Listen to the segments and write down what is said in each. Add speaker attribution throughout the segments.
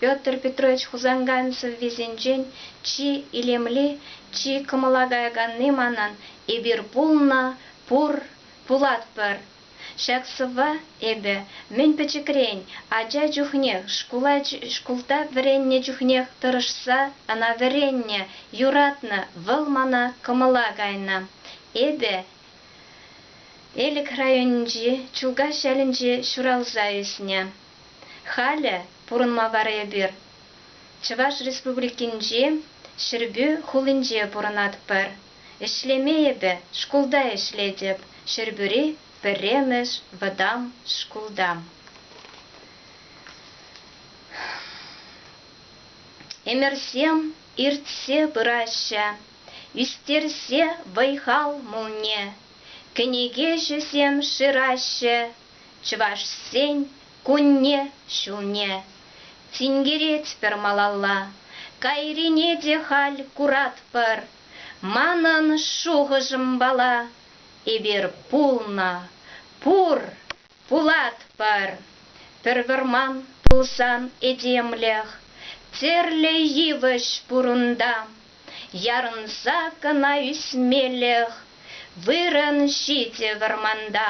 Speaker 1: Петр Петрович Хусанкай сӑввисенчен чи илемли, чи кӑмӑла каяканни манӑн эпир пулнӑ, пур, пулатпӑр. Ҫак сӑвва эпӗ мӗн пӗчӗкрен, ача чухнех, шкулта вӗреннӗ чухнех тӑрӑшса ӑна вӗреннӗ, юратнӑ. Вӑл мана кӑмӑла кайнӑ. Эпӗ Элӗк районӗнчи Чулкас ялӗнче ҫуралса ӳснӗ. Халӗ пурӑнма вара эпир Чӑваш Республикинчи Ҫӗрпӳ хулинче пурӑнатпӑр. Ӗҫлеме эпӗ шкулта ӗҫлетӗп, Ҫӗрпӳри пӗрремӗш вӑтам шкулта. Ӗмӗрсем иртсе пыраҫҫӗ, ӳстерсе вӑй-хал мулне, кӗнекеҫӗсем шыраҫҫӗ, Чӑвашсен кунне-ҫулне тинкеретпӗр малалла, кайрине те халь куратпӑр. Манӑн шухӑшӑмпала, эпир пулнӑ, пур, пулатпӑр. Пӗр вӑрман пулсан этемлӗх тӗрлӗ йывӑҫ пур унта. Ярӑнса кӑна ӳсмелӗх вырӑн ҫитӗ вӑрманта.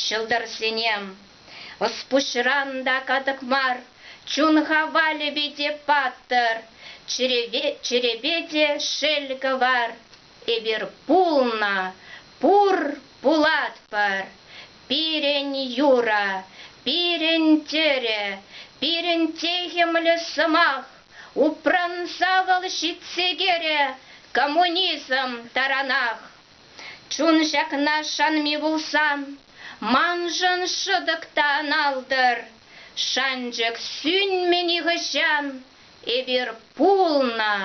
Speaker 1: Ҫӑлтӑрсем, ӑс-пуҫран та катӑк мар, чун хавалӗпе те паттӑр, чӗрепе те шел кӑвар. Эпир пулнӑ, пур, пулатпӑр. Пирӗн юрӑ, пирӗн тӗрӗ, пирӗн техӗмлӗ сӑмах упранса вӑл ҫитсе кӗрӗ коммунизм таранах. Чун ҫакна шанми пулсан, маншӑн шӑтӑк та ӑналтӑр. Шанчӑк сӳнмӗ нихӑҫан, эпир пулнӑ,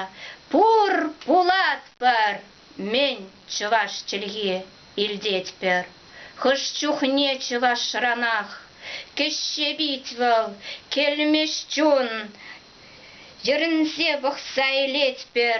Speaker 1: пур пулатпӑр. Мӗн чӑваш чӗлхи илтетпӗр. Хӑш чухне чӑвашранах кӗҫҫе пит вӑл, кӗлмӗҫ чун, йӗрӗнсе пӑхса илетпӗр.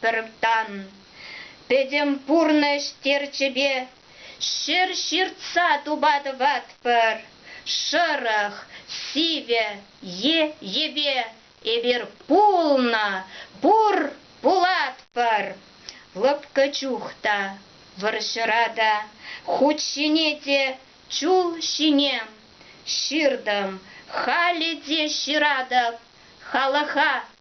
Speaker 1: Пӗр тан, пӗтӗм пурнӑҫ терчӗпе ҫӗр ҫыртса тупа тӑватпӑр, шӑрӑх, сивӗ е йӗпе эпир пулнӑ, пур, пулатпӑр. Лӑпкӑ чух та, вӑрҫӑра та, хут ҫине те, чул ҫине ҫыртӑм, халӗ те ҫыратӑп халӑха